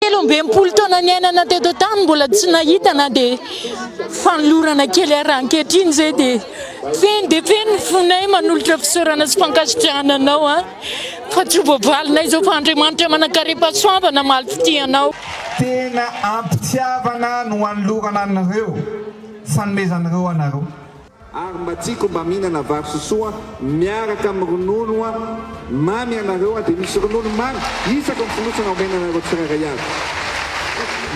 Telo amby enimpolo taona niainana teto an-tany mbola tsy nahita na dia fanolorana kely ary raha ankehitriny izay dia feno dia feno ny fonay manolotra fisaorana sy fankasitrahana anao an! fa tsy ho voavalinay izao fa Andriamanitra manan-karem-pahasoavana mamaly fitia anao. Tena ampitiavana no anolorana anareo, fanomezan'ireo anareo. Ary mba tiako mba mihinana vary sosoa miaraka amin'ny ronono mamy ianareo an, dia misy ronono mamy isaka ny fonosana omena anareo tsirairay avy.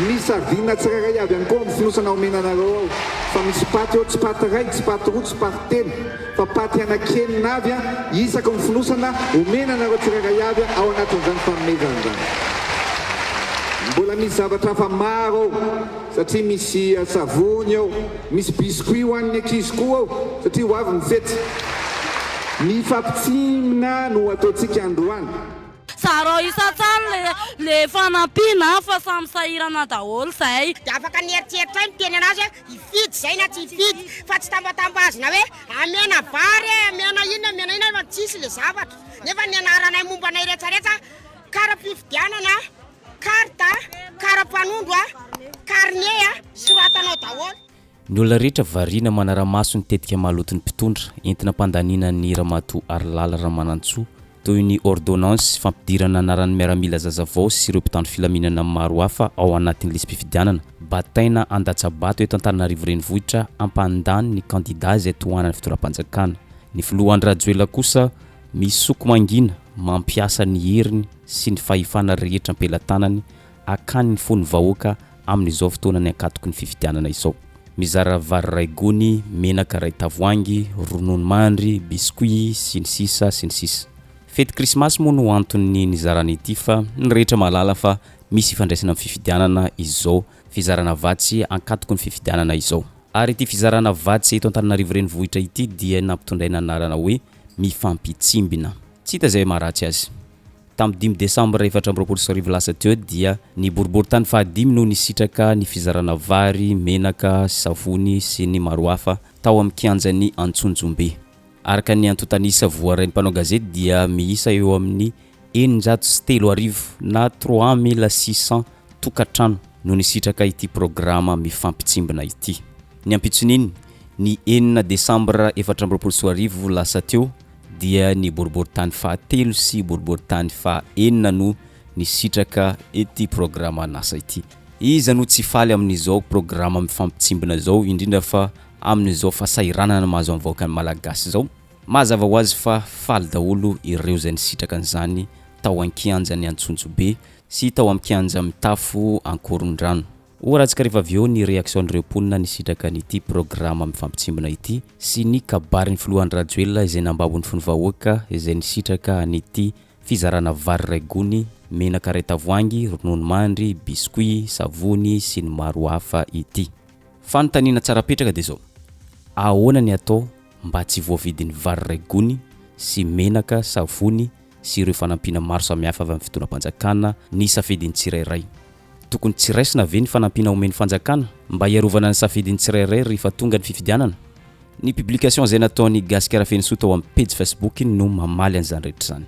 Misy aviana tsirairay avy ihany koa ao amin'ny fonosana omena anareo ao fa misy paty ao, tsy paty iray, tsy paty roa, tsy paty telo fa paty anaky enina avy an, isaky ny fonosana omena anareo tsirairay avy ao anatin'izany fanomezana izany. Mbola misy zavatra hafa maro ao satria misy savony ao. Misy biscuit ho an'ny ankizy koa ao satria ho avy ny fety. Ny fampitsimina no ataontsika androany. Zarao isan-tsany le le fanampiana an, fa samy sahirana daholo zay. Dia afaka ny eritreritray miteny anazy hoe hifidy zay na tsy hifidy fa tsy tambatambazina hoe amena vary e, amena iny amena iny fa tsisy le zavatra nefa ny anaranay momba anay retraretra kara-pifidianana. Carte, karapanondro, carnet, soratanao daholo. Ny olona rehetra variana manara-maso ny tetika maloton'ny mpitondra, entina hampandaniana an'i Ramatoa Harilala Ramanantsoa, toy ny ôrdônansy fampidirana anaran'ny miaramila zaza vao sy ireo mpitandro filaminana maro hafa ao anatin'ny lisi-pifidianana. Bataina handatsa-bato eto Antananarivo Renivohitra hampandany ny kandidà izay tohanan'ny fitondram-panjakana. Ny Filoha Andry Rajoelina kosa misoko mangina mampiasa ny heriny sy ny fahefana rehetra am-pelatanany akany ny fon'ny vahoaka amin'izao fotoanan'ny ankatoky ny fifidianana izao. Mizara vary iray gony, menaka iray tavoahangy, ronono mandry, biscuit, sy ny sisa sy ny sisa. Fety krismasy moa no anton'ny nizarana ity fa ny rehetra mahalala fa misy ifandraisana amin'ny fifidianana izao fizarana vatsy ankatoky ny fifidianana izao. Ary ity fizarana vatsy eto Antananarivo Renivohitra ity dia nampitondraina anarana hoe Mifampitsimbina. Tsy hita izay maharatsy azy. Tamin'ny dimy Desambra efatra amby roapolo sy arivo lasa teo dia ny boriborintany fahadimy no nisitraka ny fizarana vary, menaka, savony sy ny maro hafa tao amin'ny kianjan'i Antsonjombe. Araka ny antontan'isa voarain'ny mpanao gazety dia miisa eo amin'ny eninjato sy telo arivo na trois mille six cents tokantrano no nisitraka ity programa mifampitsimbina ity. Ny ampitson'iny, ny enina Desambra efatra amby roapolo sy roa arivo lasa teo, dia ny boriboritany fahatelo sy boriboritany faha enina no nisitraka ity programan'asa ity. Iza no tsy faly amin'izao programa mifampitsimbina izao, indrindra fa amin'izao fahasahiranana mahazo an'ny vahoakan'ny Malagasy izao? Mazava ho azy fa faly daholo ireo izay nisitraka an'izany tao an-kianjan'i Antsonjobe sy tao amin'ny kianja mitafo Ankorondrano. Ho arantsika rehefa avy eo ny reaksion'ireo mponina nisitraka an'ity programa mifampitsimbina ity sy ny kabarin'ny filoha Andry Rajoelina izay nambabo ny fon'ny vahoaka izay nisitraka an'ity fizarana vary iray gony, menaka iray tavoahangy, ronono mandry, biscuit, savony sy ny maro hafa ity. Fanontaniana tsara apetraka dia izao, ahoana ny atao mba tsy voavidy ny vary iray gony sy menaka, savony sy ireo fanampiana maro samihafa avy amin'ny fitondram-panjakana ny safidin'ny tsirairay? Tokony tsy raisina ve ny fanampiana omen'ny fanjakana mba hiarovana ny safidin'ny tsirairay rehefa tonga ny fifidianana? Ny publication izay nataon'i Gasikara Fenosoa tao amin'ny pejy Facebook-ny no mamaly an'izany rehetra izany.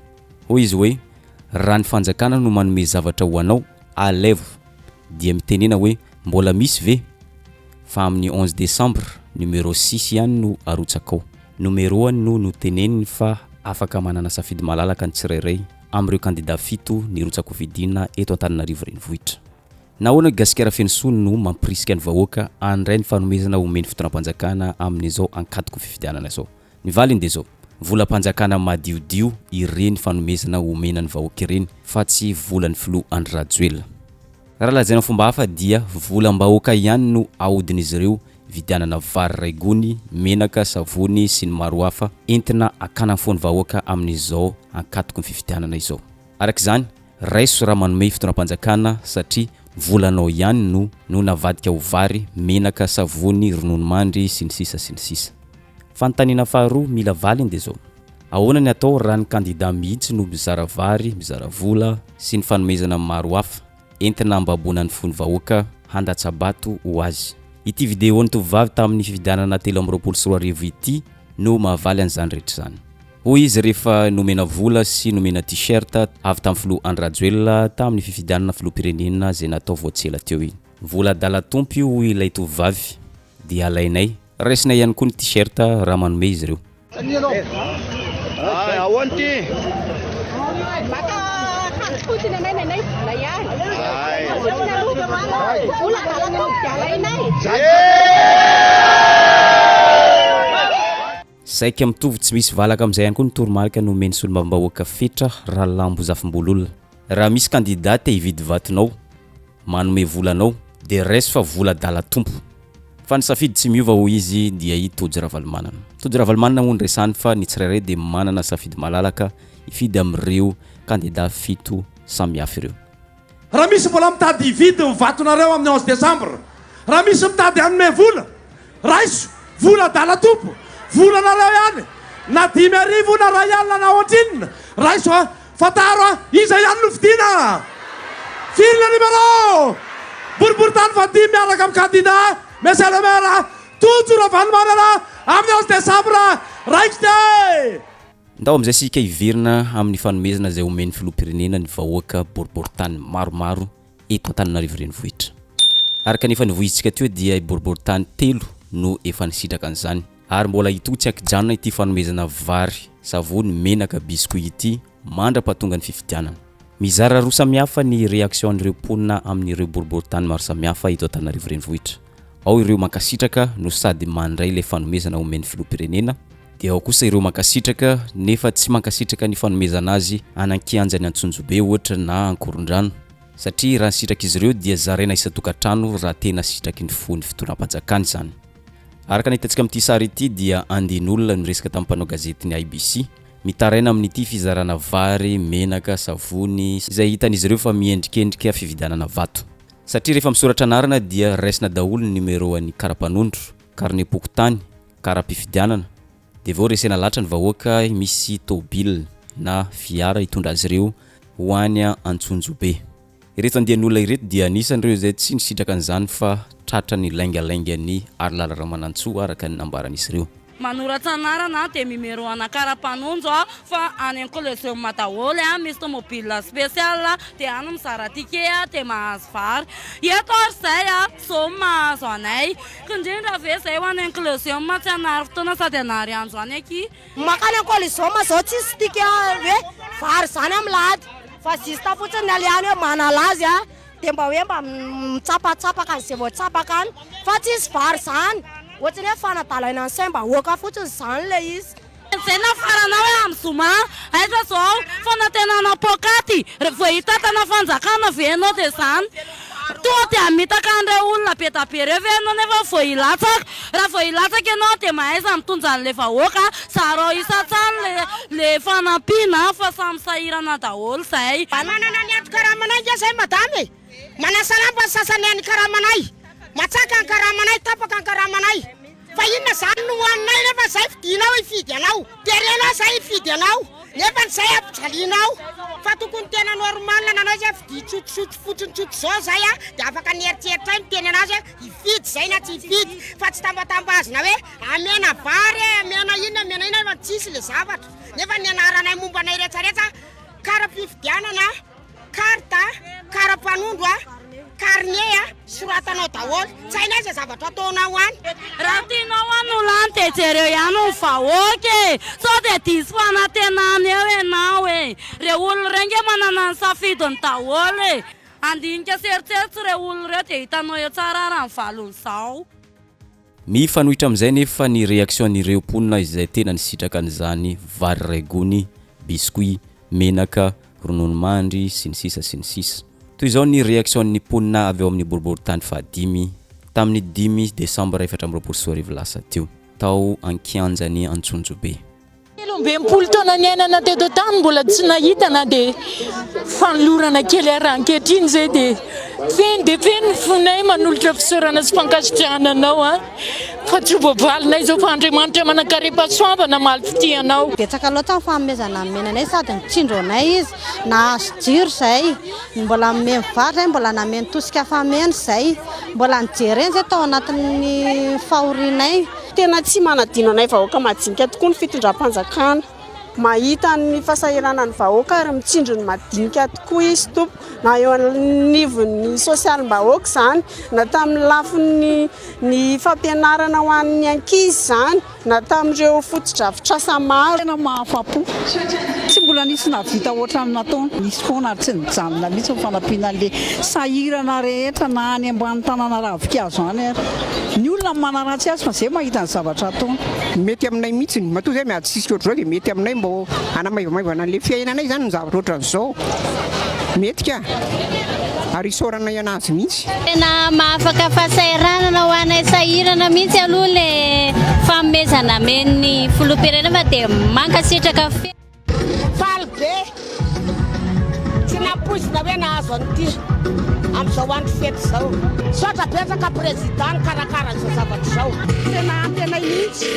Hoy izy hoe, Raha ny fanjakana no manome zavatra ho anao, alevo! dia mitenena hoe mbola misy ve? Fa amin'ny onze décembre, numéro six ihany no arotsakao. Numéro-any no noteneniny fa afaka manana safidy malalaka ny tsirairay amin'ireo kandida fito nirotsakofidina eto Antananarivo Renivohitra. Nahoana i Gasikara Feno Soa no mampirisika ny vahoaka handray ny fanomezana omen'ny fitondram-panjakana amin'izao ankatoky fifidianana izao? Ny valiny dia izao, volam-panjakana madiodio ireny fanomezana omena ny vahoaka ireny fa tsy volan'ny filoha Andry Rajoelina. Raha lazaina fomba hafa dia volam-bahoaka ihany no ahodin'izy ireo vidianana vary iray gony, menaka, savony sy ny maro hafa entina hakana ny fon'ny vahoaka amin'izao ankatoky ny fifidianana izao. Araka izany, raiso raha manome fitondram-panjakana satria ny volanao ihany no no navadika ho vary, menaka, savony, ronono mandry sy ny sisa sy ny sisa. Fanontaniana faharoa mila valiny dia izao, ahoana ny atao raha ny kandida mihitsy no mizara vary, mizara vola sy ny fanomezana maro hafa? entina hambaboana ny fon'ny vahoaka handatsa-bato ho azy. Ity videon'ny tovovavy tamin'ny fifidianana telo amby roapolo sy roa arivo ity no mahavaly an'izany rehetra izany. Hoy izy rehefa nomena vola sy nomena T-shirt avy tamin'ny filoha Andry Rajoelina tamin'ny fifidianana filoham-pirenena izay natao vao tsy ela teo iny. Vola adala Tompo io hoy ilay tovovavy, dia alainay. Raisinay ihany koa ny T-shirt raha manome izy ireo. Saika mitovy tsy misy valaka amin'izay ihany koa ny toromarika nomen'ny solombavambahoaka Fetra Ralambozafimbololona. Raha misy kandida te hividy vatonao. Manome vola anao dia raiso fa vola adala tompo. Fa ny safidy tsy miova hoy izy dia i Tojo Ravalomanana. Tojo Ravalomanana moa no resany fa ny tsirairay dia manana safidy malalaka hifidy amin'ireo kandida fito samihafa ireo. Raha misy mbola mitady hividy ny vatonareo amin'ny onze décembre, raha misy mitady hanome vola, Raiso! Vola adala tompo! Vola nareo ihany! Na dimy arivo na ray alina na ohatrinona! Raiso a! Fantaro a! Iza ihany no fidiana! Firinina numéro! Boriboritany fahadimy miaraka amin'ny kandida Monsieur le Maire Tojo Ravalomanana amin'ny onze décembre raikitra! Ndao amin'izay isika hiverina amin'ny fanomezana izay omen'ny Filoham-pirenena ny vahoaka boriboritany maromaro. eto Antananarivo Renivohitra. Araka ny efa nivoizitsika teo dia i boriboritany telo no efa nisitraka an'izany. Ary mbola hitohy tsy ankijanona ity fanomezana vary, savony, menaka, biscuits ity mandra-pahatonga ny fifidianana. Mizara roa samihafa ny reaction-n'ireo mponina amin'ireo boriboritany maro samihafa eto Antananarivo Renivohitra. Ao ireo mankasitraka no sady mandray ilay fanomezana omen'ny Filoham-pirenena, dia ao kosa ireo mankasitraka nefa tsy mankasitraka ny fanomezana azy any an-kianjan'i Antsonjobe ohatra na Ankorondrano, satria raha ny sitrak'izy ireo dia zaraina isan-tokantrano raha tena sitraky ny fo ny fitondram-panjakana izany. Araka ny hitantsika amin'ity sary ity dia andian'olona no niresaka tamin'ny mpanao gazetin'ny IBC, mitaraina amin'ity fizarana vary, menaka, savony, izay hitan'izy ireo fa miendrikendrika fividianana vato. Satria rehefa misoratra anarana dia raisina daholo ny numéro an'ny karapanondro, carnet pokontany, karam-pifidianana, dia vao resena latra ny vahoaka misy tôbily na fiara hitondra azy ireo ho any Antsonjobe. Ireto andian'olona ireto dia anisan'ireo izay tsy nisitraka an'izany fa tratran'ny laingalaingan'i Arilala Ramanantsoa araka ny nambaran'izy ireo. Manoratra anarana aho dia mimero ana kara panonjo aho fa any an kolezioma daholo an misy tomobile special dia any mizara ticket aho dia mahazo vary eto ary izay an zao no mahazo anay kindrindra ve izay ho any an kolezioma tsy hanary fotoana sady hanary andro any akia. Makany an kolezioma zao tsisy ticket hoe vary zany am lahady fa juste fotsiny ny alehany hoe manala azy an. dia mba hoe mba mitsapatsapaka an'izay vao tsapaka any fa tsisy vary izany, ohatrany hoe fanadalaina ny saim-bahoaka fotsiny izany ilay izy. Izay nafarana hoe amin'ny zoma, aiza izao fanantenana poakaty rehefa vao hitantana fanjakana ve ianao dia izany, tonga dia hamitaka an'ireo olona be dia be ireo ve ianao nefa vao hilatsaka Raha vao hilatsaka ianao dia mahaiza mitondra an'ilay vahoaka, zarao isan-tsany le le fanampiana fa samy sahirana daholo zay. Mba manana ny ato karamanay nge zay madama e! Manasalamba ny sasany any karamanay, matsaka ny karamanay, tapaka ny karamanay, fa inona zany no hoaninay refa zay fidinao hifidy anao, terenao zay hifidy anao nefa ny zay ampijalianao, fa tokony tena normal nanao izy a, fidia tsotrosotro fotsiny tsotra zao zay a, de afaka nieritreritray miteny anazy hoe Hifidy izay na tsy hifidy fa tsy tambatambazina hoe amena vary e, amena inona amena inona fa tsisy le zavatra. Nefa ny anaranay momba anay retsaretsaka kara-pifidianana, carte, kara-panondro, carnet soratanao daholo. Tsy hainay izay zavatra ataonao any. Raha tianao hanolo any dia jereo ihany ny vahoaka e! Sao dia diso fanantenana eo ianao e! Ireo olona ireo ange manana ny safidiny daholo e! Handinika sy eritseritso ireo olona ireo dia hitanao eo tsara ara ny valon'izao. Mifanohitra amin'izay anefa ny reaction-n'ireo mponina izay tena nisitraka an'izany vary iray gony, biscuit, menaka, ronono mandry, sy ny sisa sy ny sisa. Toy izao ny reaction-n'ny mponina avy ao amin'ny boriborintany fahadimy, tamin'ny dimy desambra efatra amby roapolo sy roa arivo lasa teo, tao an-kianjan'i Antsonjobe. Telo amby enimpolo taona niainana teto an-tany mbola tsy nahita na dia fanolorana kely ary raha ankehitriny izay dia feno dia feno ny fonay manolotra fisaorana sy fankasitrahana anao an fa tsy ho voavalinay izao fa Andriamanitra manankarem-pahasoavana mamaly fitia anao. Betsaka loatra ny fanomezana nomena anay sady nitsindro anay izy nahazo jiro izay mbola nomeny vary izay mbola nameno tosika fameno izay mbola nijereny izay tao anatin'ny fahorianay Tena tsy manadino anay vahoaka madinika tokoa ny fitondram-panjakana. Mahita ny fahasahiranan'ny vahoaka ary mitsinjo ny madinika tokoa izy tompoko. Na eo anivon'ny sosialim-bahoaka izany, na tamin'ny lafiny ny fampianarana ho an'ny ankizy izany, na tamin'ireo fotodrafitrasa maro. Tena mahafa-po. Tsy mbola nisy nahavita hoatran'ny nataony. Nisy foana ary tsy nijanona mihitsy ny fanampiana an'ilay sahirana rehetra na any ambany tanàna ravin-kazo any ary. Ny olona no manaratsy azy fa zay mahita ny zavatra ataony. Mety aminay mihitsiny, matoa zay miady sisika ohatr'izao dia mety aminay mba hanamaivamaivana an'ilay fiainanay izany ny zavatra ohatr'izao. Mety ka. Ary isaoranay an'azy mihitsy. Tena mahafaka fahasahiranana ho anay sahirana mihitsy aloha ilay fanomezana amen'ny filoham-pirenena fa dia mankasitraka feno. Faly be! Tsy nampoizina hoe nahazo an'ity amin'izao andro fety izao. Misaotra betsaka Président nikarakara izao zavatra izao. Tena antenainy mihitsy.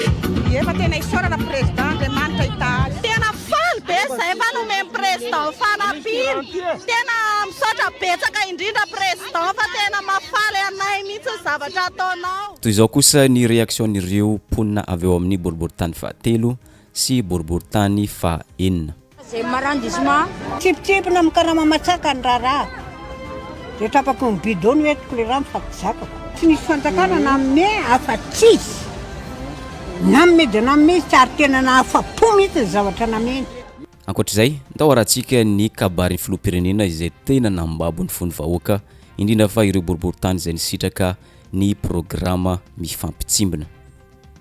Ie fa tena isaorana Président, Andriamanitra hitaha azy. Tena faly be izay fa nomen'i Président fanampiana. Tena misaotra betsaka indrindra Président fa tena mahafaly anay mihitsy ny zavatra ataonao. Toy izao kosa ny reaction-n'ireo mponina avy ao amin'ny boriborintany fahatelo sy boriborintany faha enina. Tsipitsipy na amin'ny karama matsaka ny raharaha dia trapaky ny bidon no entiko ilay rano fa tsy zakako. Tsy misy fanjakana nanome afa-tsy izy. Nanome dia nanome izy tsy ary tena nahafa-po mihitsy ny zavatra nameny. Ankoatra izay, ndao harahantsika ny kabarin'ny filoham-pirenena izay tena nambabo ny fon'ny vahoaka, indrindra fa ireo boriborintany izay nisitraka ny programa mifampitsimbina.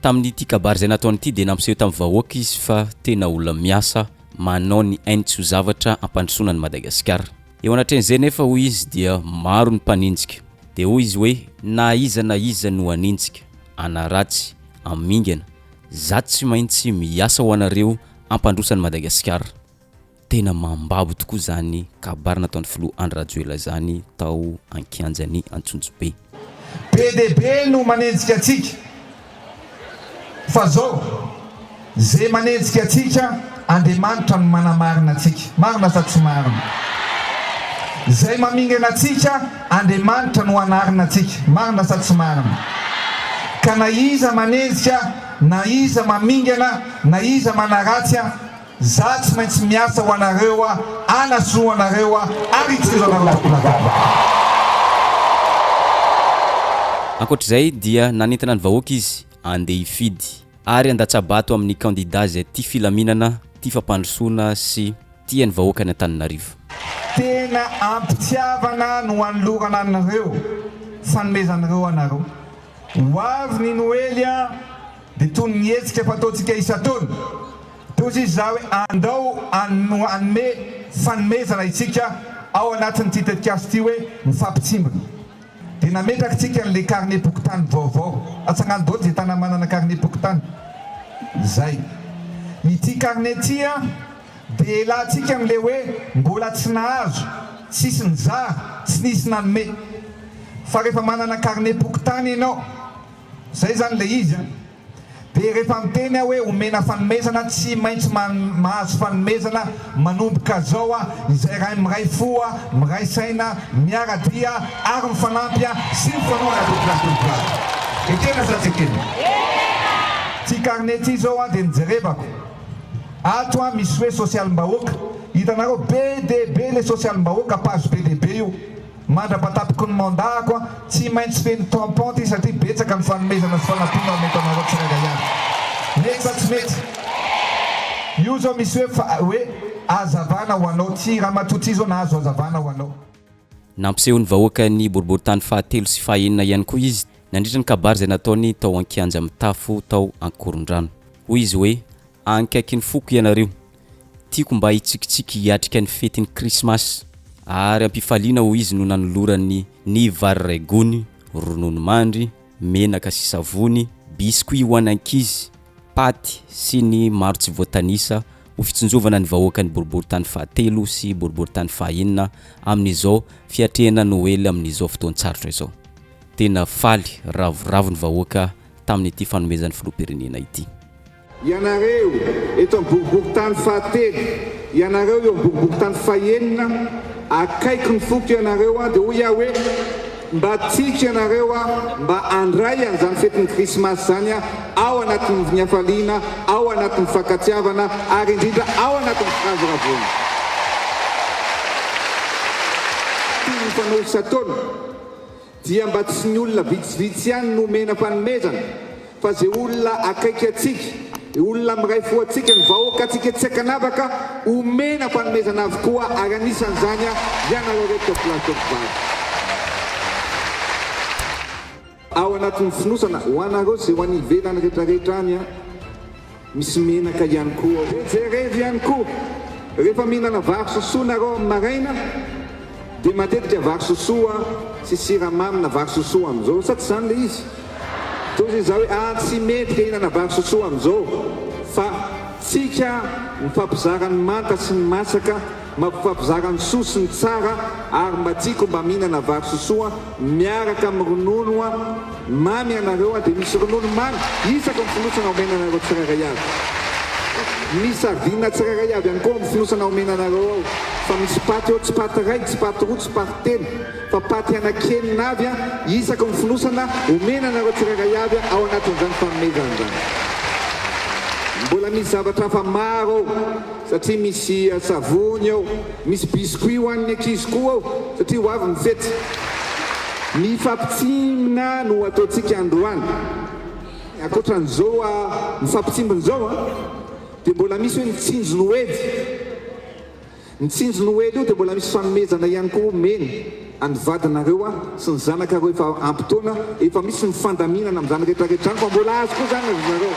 Tamin'ity kabary izay nataony ity dia nampiseho tamin'ny vahoaka izy fa tena olona miasa manao ny ainy tsy ho zavatra hampandrosoana an'i Madagasikara. Eo anatrehan'izay anefa hoy izy dia maro ny mpaninjika. Dia hoy izy hoe. Na iza na iza no haninjika, hanaratsy, hamingana, za tsy maintsy miasa ho anareo hampandroso an'i Madagasikara. Tena mambabo tokoa izany kabary nataon'ny filoha Andry Rajoelina izany tao an-kianjan'i Antsonjombe. Be dia be no manenjika antsika fa zao ze manenjika antsika Andriamanitra no manamarina antsika marina sa tsy marina? Zay mamingana antsika Andriamanitra no anarina antsika marina sa tsy marina? Ka na iza manenjika na iza mamingana na iza manaratsy Za tsy maintsy miasa ho anareo a anasoa anareo a ary hijiro anareo tsy mbola gadra a. Ankoatra izay dia nanentana ny vahoaka izy andeha hifidy ary handatsa-bato amin'ny kandida izay tia filaminana, tia fampandrosoana sy tia ny vahoaka any Antananarivo. Tena am-pitiavana no anolorana anareo fanomezanareo anareo. Ho avy ny Noely an, dia toy ny hetsika fataontsika isan-taona. Tohizo izy zah hoe andao hanome fanomezana isika ao anatin'ity tetikasa ity hoe mifampitsimbina. Dia nametraka isika an'ilay karnem-pokontany vaovao. Atsangano daholo izay tanàna manana karnem-pokontany. Izay. Ity karne ity dia ialatsika amin'ilay hoe mbola tsy nahazo, tsisy nizara, tsy nisy nanome. Fa rehefa manana karnem-pokontany ianao, izay izany ilay izy an. Dia rehefa miteny aho hoe omena fanomezana, tsy maintsy mahazo fanomezana manomboka zao a, izay raha miray fo, miray saina, miara-dia ary mifanampy sy mifanora tompok'ady tompok'ady. Ekena sa tsy ekena? Ty carnet ty zao a dia nijerebako ato a, misy hoe sosialim-bahoaka, hitanareo be dia be le sosialim-bahoaka, page be dia be io. Mandra-patapoko ny mandat-ko an, tsy maintsy feno tampon ity satria betsaka ny fanomezana sy fanampiana ho mety anareo tsirairay avy. Mety sa tsy mety? Io zao misy hoe fa hoe hazavana ho anao. Tsy ramatoa ty zao nahazo hazavana ho anao. Nampiseho ny vahoaka ny boriborintany fahatelo sy fahaenina ihany koa izy nandritra ny kabary izay nataony tao an-kianja mitafo tao Ankorondrano. Hoy izy hoe. Ankaiky ny foko ianareo. Tiako mba hitsikitsiky hiatrika ny fetin'ny Krismasy. Ary am-pifaliana hoy izy no nanolorany ny vary iray gony, ronono mandry, menaka sy savony, biscuits ho an'ny ankizy, paty sy ny maro tsy voatanisa ho fitsinjovana ny vahoakan'ny boriboritany fahatelo sy boriboritany fahaenina amin'izao fiatrehana Noely amin'izao fotoan-tsarotra izao. Tena faly ravoravo ny vahoaka tamin'ity fanomezan'ny Filoham-pirenena ity. Ianareo, eto amin'ny boriborintany fahatelo, ianareo eo amin'ny boriborintany fahenina, akaiky ny foko ianareo, dia hoy aho hoe, Mba tiako ianareo mba handray an'izany fetin'ny Krismasy izany ao anatin'ny ny hafaliana, ao anatin'ny fifankatiavana, ary indrindra ao anatin'ny firavoravoana. Toy ny fanaory isan-taona, dia mba tsy ny olona vitsivitsy ihany no omena fanomezana fa ze olona akaiky antsika, olona miray fo antsika, ny vahoaka antsika tsy ankanavaka omena fanomezana avokoa ary anisan'izany ianareo reto tovolahy tovovavy. Ao anatin'ny fonosana ho anareo ze ho any ivelany retraretra any an! Misy menaka ihany koa ao. Dia jerevo ihany koa, rehefa mihinana vary sosoa nareo amin'ny maraina, dia matetika vary sosoa sy siramamy na vary sosoa amin'izao, sa tsy izany ilay izy? Dia hoy izaho hoe, ah, tsy mety ilay hihinana vary sosoa amin'izao, fa tsika mifampizara ny manta sy ny masaka, mampifampizara ny soa sy ny tsara, ary mba tiako mba mihinana vary sosoa Miaraka amin'ny ronono mamy ianareo dia misy ronono mamy isaky ny fonosana omena anareo tsirairay avy. Misy aviona tsirairay avy ihany koa ao amin'ny fonosana omena anareo ao fa misy paty eo tsy paty iray, tsy paty roa, tsy paty telo fa paty anaky enina avy isaky ny fonosana omena anareo tsirairay avy ao anatin'izany fanomezana izany. Mbola misy zavatra hafa maro ao satria misy savony ao. Misy biscuit ho an'ny ankizy koa ao satria ho avy ny fety. Ny fampitsimina no ataontsika androany. Ankoatran'izao mifampitsimbina izao an, dia mbola misy hoe mitsinjo noely. Mitsinjo noely io dia mbola misy fanomezana ihany koa omena. Any vadinareo aho sy ny zanakareo efa ampy taona, efa misy ny fandaminana amin'izany retraretra zany fa mbola azy koa zany ry zareo.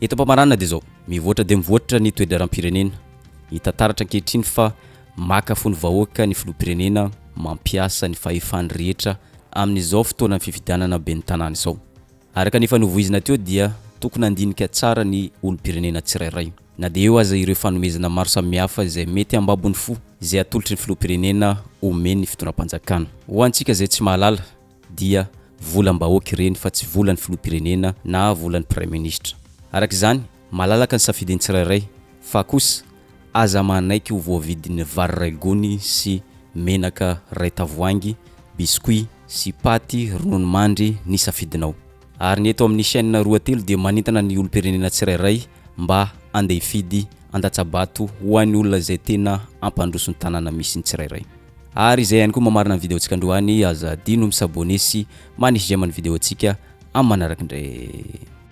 Eto Ampamaranana dia izao, mivoatra dia mivoatra ny toe-draharaham-pirenena. Hita taratra ankehitriny fa maka fo ny vahoaka ny filoham-pirenena mampiasa ny fahefany rehetra amin'izao fotoanan'ny fifidianana ben'ny tanàna izao. Araka ny efa novoizina teo dia tokony handinika tsara ny olom-pirenena tsirairay, na dia eo aza ireo fanomezana maro samihafa izay mety hambabony fo izay atolotry ny filoham-pirenena omen'ny fitondram-panjakana. Ho antsika izay tsy mahalala dia volam-bahoaka ireny fa tsy volan'ny filoham-pirenena na volan'ny praiminisitra. Araka izany, Malalaka ny safidin'ny tsirairay, fa kosa aza manaiky ho voavidin'ny vary iray gony sy menaka iray tavoahangy, biscuit sy paty, ronono mandry ny safidinao. Ary ny eto amin'ny chaîne roa telo dia manentana ny olom-pirenena tsirairay mba andeha hifidy andatsa-bato ho an'ny olona izay tena hampandroso ny tanàna misy ny tsirairay. Ary izay ihany koa mamarana ny video-ntsika androany, aza adino mi-s'abonner sy manisy j'aime ny video-ntsika amin'ny manaraka indray.